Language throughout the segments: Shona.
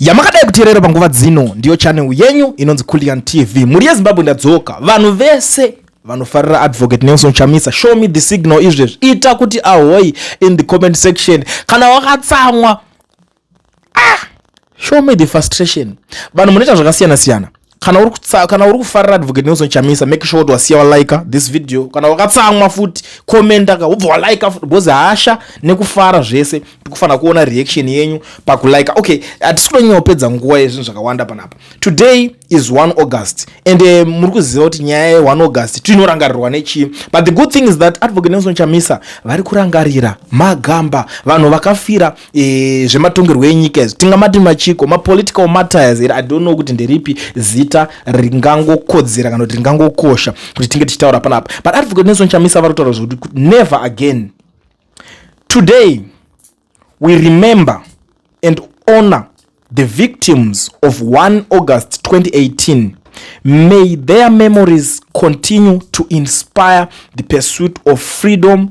yamakadai kuteerera panguva dzino ndiyo channel yenyu inonzi kulian tv mhuri yezimbabwe ndadzoka vanhu vese vanofarira advocate nelson chamisa show me the signal izvezvi ita kuti ahoyi in the comment section kana wakatsamwa ah, show me the frustration vanhu munoita zvakasiyana siyana kana uri kutsa kana uri kufarira advocate nelson chamisa make sure kuti wasiya walaika this video kana wakatsamwa futi commenta ka ubva walaika futi because hasha nekufara zvese tikufanira kuona reaction yenyu pakulaika okay hatisi kutonyanya kupedza nguva yezvinhu zvakawanda panapa today is 1 august and uh, muri kuziva kuti nyaya ye 1 august tinorangarirwa nechii but the good thing is that advocate nelson chamisa vari kurangarira magamba vanhu vakafira e, zvematongerwo enyika izvi tingamati machiko mapolitical matters here i don't know kuti nderipi zita ringangokodzera kana kuti ringangokosha kuti tinge tichitaura panapa but advocate nelson chamisa vari kutaura zvekuti never again today we remember and honor the victims of 1 august 2018 may their memories continue to inspire the pursuit of freedom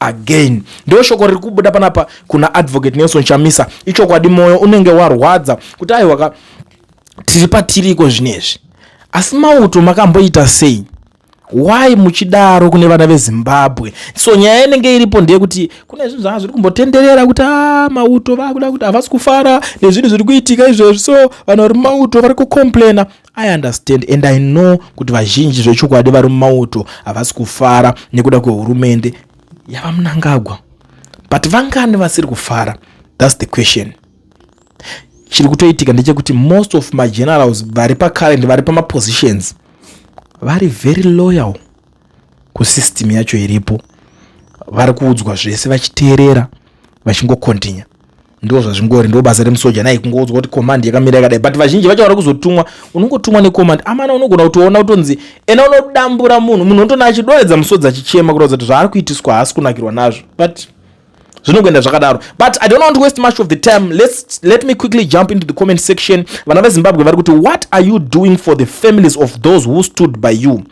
again ndo shoko riri kubuda panapa kuna advocate nelson chamisa ichokwadi mwoyo unenge warwadza kuti aiwaka tiri patiriko zvinezvi asi mauto makamboita sei why muchidaro kune vana vezimbabwe so nyaya inenge iripo ndeyekuti kune zvinhu zvanga zviri kumbotenderera kuti a ah, mauto vakuda kuti havasi kufara nezvinhu zviri kuitika izvezvi so vanhu vari mauto vari kucomplaina I understand and I know kuti vazhinji zvechokwadi vari mumauto havasi kufara nekuda kwehurumende yavamunangagwa but vangani vasiri kufara thats the question chiri kutoitika ndechekuti most of magenerals vari pacurrent vari pamapositions vari very loyal kusystem yacho iripo vari kuudzwa zvese vachiteerera vachingokontinya ndo zvazvingori ndo basa remusoja nai kungoudzwa kuti command yakamira yakadai but vazhinji vacho vari kuzotumwa unongotumwa necommand amana unogona kutoona kutonzi ena unodambura munhu munhu unotona achidoredza musodzi achichema kuratidza kuti zvaari kuitiswa haasi kunakirwa nazvo but zvinokuenda zvakadaro but i don't want to waste much of the time Let's, let me quickly jump into the comment section vana vezimbabwe vari kuti what are you doing for the families of those who stood by you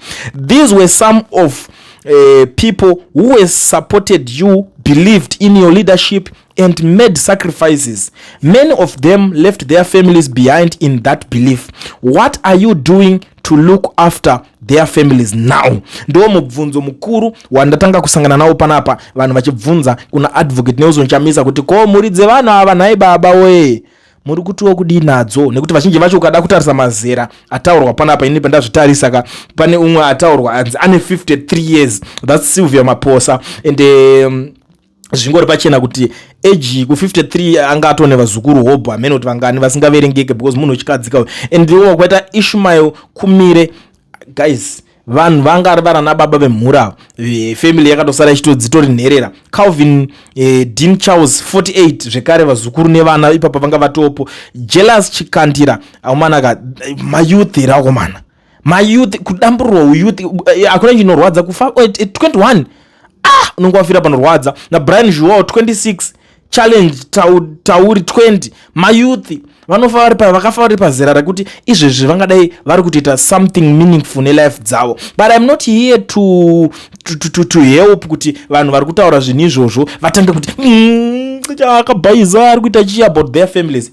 these were some of uh, people who were supported you believed in your leadership and made sacrifices many of them left their families behind in that belief what are you doing to look after their families now ndo mubvunzo mukuru wandatanga kusangana nawo panapa vanhu vachibvunza kuna advocate nelson chamisa kuti ko mhuri dzevanhu ava nhai baba wee muri kutiwo kudii nadzo nekuti vazhinji vacho ukada kutarisa mazera ataurwa panapa ini pandazvitarisa ka pane umwe ataurwa anzi ane 53 years thats sylvia maposa and um, zvingori pachena kuti age ku53 anga atone vazukuru hobho hamene kuti vangani vasingaverengeke because munhu wechikadzi kawo and ndiwo kwaita ishmael kumire guys vanhu vanga ari varana baba vemhuri avo eh, family yakatosara ichitodzitori nherera calvin eh, dean charles 48 zvekare vazukuru nevana ipapa vanga vatopo jealous chikandira akomana ka eh, mayouth here akomana mayouth kudamburwa uyouth eh, hakuna chinorwadza kufa 21 eh, ah unenge wafira panorwadza nabrian zhuwawo 26 challenge tauri 20 mayouth vanofa vari pa vakafa vari pazera rekuti izvezvi vangadai vari kutoita something meaningful nelife dzavo but im not here to, to, to, to, to help kuti vanhu vari kutaura zvinhu izvozvo vatange kuti mm, akabhaiza ari kuita chii about their families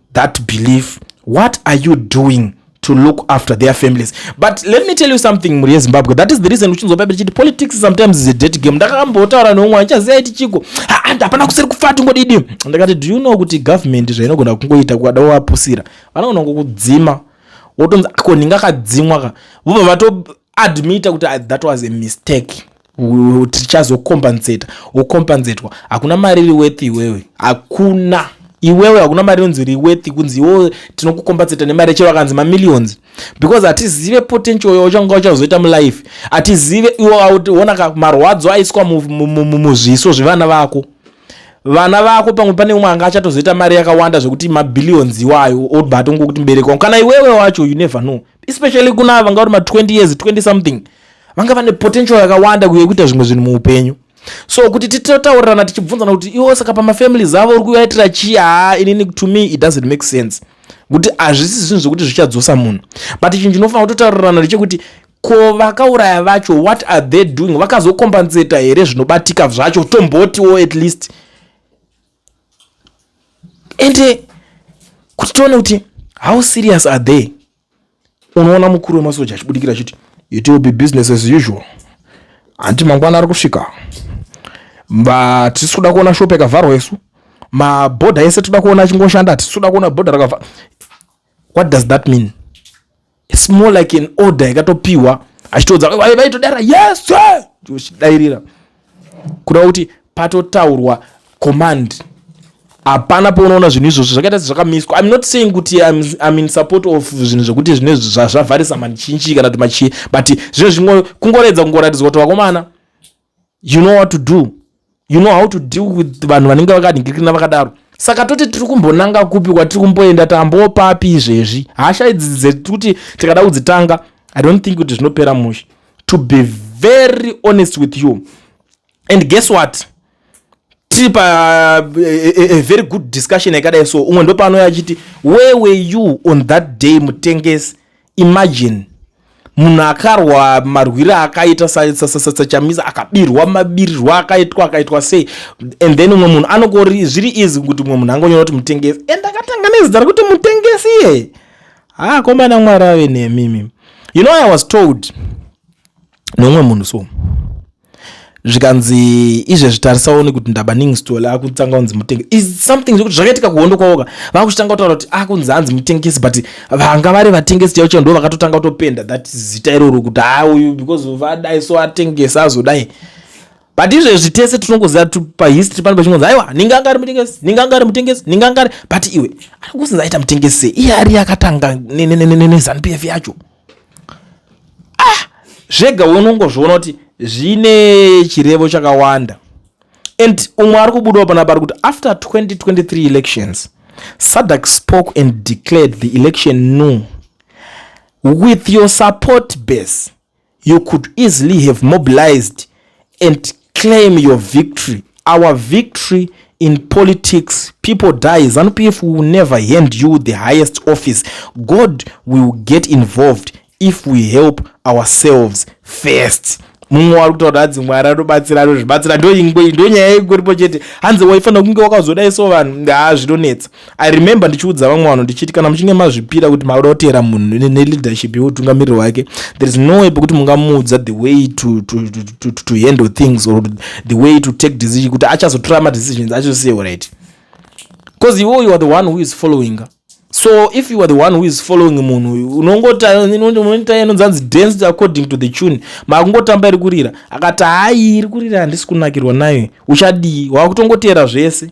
that belief what are you doing to look after their families but let me tell you something mhuri yezimbabwe that is the reason uchinzwapa tichiti politics sometimes is a dead game ndakambotaura neumwe andichaziva iti chiko handi hapana kuseri kufa tingodidi ndakati do you know kuti government zvainogona kungoita kukada wavapusira vanogona kukudzima wotonzi ko ndinga kadzimwa ka vobva vato admita kuti ah, that was a mistake tichazokompensata wokompensatwa hakuna mari iri wethi iwewe hakuna iwewe hakuna mari inonzi iri wethi kunzi iwewe tinokukompensata nemari chero akanzi mamillions because hatizive potential yo uchanga uchazoita mulife hatizive iwoona ka marwadzo aiswa muzviso zvevana vako vana vako pamwe pane umwe anga achatozoita mari yakawanda zvekuti mabillions iwayo obatongokutibereka kana iwewe wacho you never know especially kuna ava vanga vari ma 20 years 20 something vanga vane potential yakawanda yekuita zvimwe zvinhu muupenyu so kuti titotaurirana tichibvunzana kuti iwo saka pamafamilies avo uri kuvaitira chii haa inini to me it doesn't make sense kuti hazvisi zvinhu zvekuti zvichadzosa munhu but chinhu chinofanira kutotaurirana ndechekuti ko vakauraya vacho what are they doing vakazokombanseta here zvinobatika zvacho tombotiwo at least ende kuti tione kuti how serious are they unoona mukuru wemasoja achibudikira achiti it will be business as usual hanti mangwana ari kusvika vatisi kuda kuona shop yakavharwa isu mabhodha ese toda kuona achingoshanda hatisi kuda kuona bhodha rakavharwa what does that mean it's more like an order yakatopiwa achitoudza vaitodara yes sir uchidairira kureva kuti patotaurwa command hapana paunoona zvinhu izvozvo zvakaita sezvakamiswa im not saying kuti im in support of zvinhu zvekuti zvine zvavharisa manichinchi kana kuti machii but zvine zvimwe kungoredza kungoratidzwa kuti vakomana you know what to do you know how to deal with vanhu vanenge vakanhingirikina vakadaro saka toti tiri kumbonanga kupi kwatiri kumboenda tambopapi izvezvi hasha idzi dzekuti kuti tikada kudzitanga i don't think kuti zvinopera mushe to be very honest with you and guess what tiri pa a, eh, a, eh, a very good discussion yakadai so umwe ndopaanoya achiti where were you on that day mutengesi imagine munhu akarwa marwire akaita sachamisa akabirwa mabirirwo akaitwa akaitwa sei and then umwe munhu anokori zviri easy kuti umwe munhu angonyora kuti mutengesi and akatanga nezita rekuti mutengesi iye haa komana mwari ave nemimi you know i was told neumwe munhu so zvikanzi izvezvi tarisa one kuti ndabaning stol akutanga kunzi mutenge is something zvekuti zvakaitika kuhondo kwaoka vakuchitanga kutaura kuti akunzi ah, hanzi mutengesi but vanga vari vatengesi chaivo chaivo ndo vakatotanga kutopenda that zita iroro kuti haa ah, uyu because vadai so atengesi azodai but izvezvi tese tinongoziva pahistory pano pachingonzi aiwa ninga anga ari mutengesi ninga anga ari mutengesi ninga anga ari but iwe ari kusinza aita mutengesi sei iye ari akatanga nezanupf yacho ah zvega unongozviona kuti zvine chirevo chakawanda and umwe ari kubudawo pana pari kuti after 2023 elections sadak spoke and declared the election new with your support base you could easily have mobilized and claim your victory our victory in politics people die zanu pf will never hand you the highest office god will get involved if we help ourselves first mumwe wari kutaura hanzi mwari anobatsira anozvibatsira ndonyaya ingoripo chete hanzi waifanira kunge wakazodaiso vanhu haa zvinonetsa i remember ndichiudza vamwe vanhu ndichiti kana muchinge mazvipira kuti maoda kuteera munhu neleadership yeutungamiriri wake there is no way pekuti mungamuudza the way to, to, to, to, to, to handle things or the way to take decision kuti achazotora madecisions achosiyewo right because iwo you are the one who is following her so if you are the one who is following munhu uyu unongotainoita inonzanzi dance according to the tune makungotamba iri kurira akati hayi iri kurira handisi kunakirwa nayo uchadii wakutongoteera zvese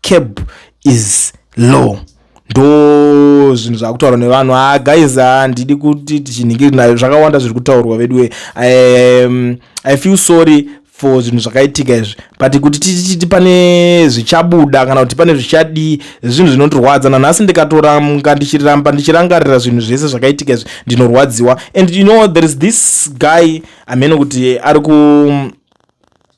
cab is low ndo zvinhu zvaakutaurwa nevanhu ha ah, guys handidi ah, kuti tichinhingiri nayo zvakawanda zviri kutaurwa veduwe um, i feel sorry for zvinhu zvakaitika izvi but kuti tichiti pane zvichabuda kana kuti pane zvichadii zvinhu zvinondirwadza nanhasi ndikatoramga ndichiramba ndichirangarira zvinhu zvese zvakaitika izvi ndinorwadziwa and you know there is this guy amene kuti ari ku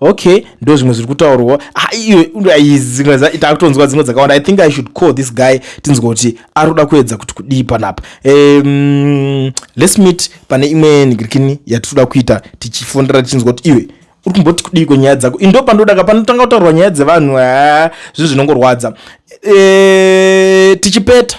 okay ndo zvimwe zviri kutaurwa takutonzwa dzimwe dzakawanda i think i should call this guy tinzwa kuti ari kuda kuedza kuti kudii panapa um, lets meet pane imwe nigirikini yatitoda kuita tichifondera tichinzwa kuti iwe uri kumboti kudii kwenyaya dzako indo pandodaka panotanga kutaurwa nyaya dzevanhu zvinhu zvinongorwadza e, tichipeta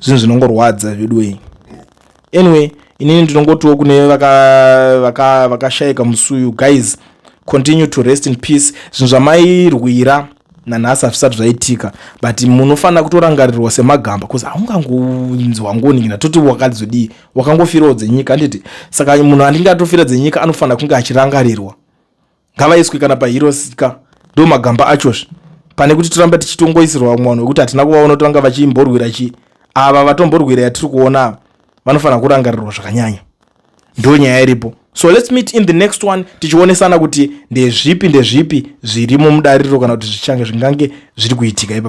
zvinhu zvinongorwadza veduwei anyway inini ndinongotiwo kune vakashaika vaka, vaka musuyu guys continue to rest in peace zvinhu zvamairwira nanhasi hazvisati zvaitika but munofanira kutorangarirwa semagamba bcause haungangonzwa ngoningina toti wakadzodii wakangofirawo dzenyika handiti saka munhu andinge atofira dzenyika anofanira kunge achirangarirwa ngavaiswe kana paheroes ka ndo magamba achozve pane kuti toramba tichitongoisirwa vamwe vanhu vekuti hatina kuvaona kuti vanga vachimborwira chii ava vatomborwira yatiri kuona ava vanofanira kurangarirwa zvakanyanya ndo nyaya iripo so let's meet in the next one tichionesana kuti ndezvipi ndezvipi zviri mumudariro kana kuti zvichange zvingange zviri kuitika ipa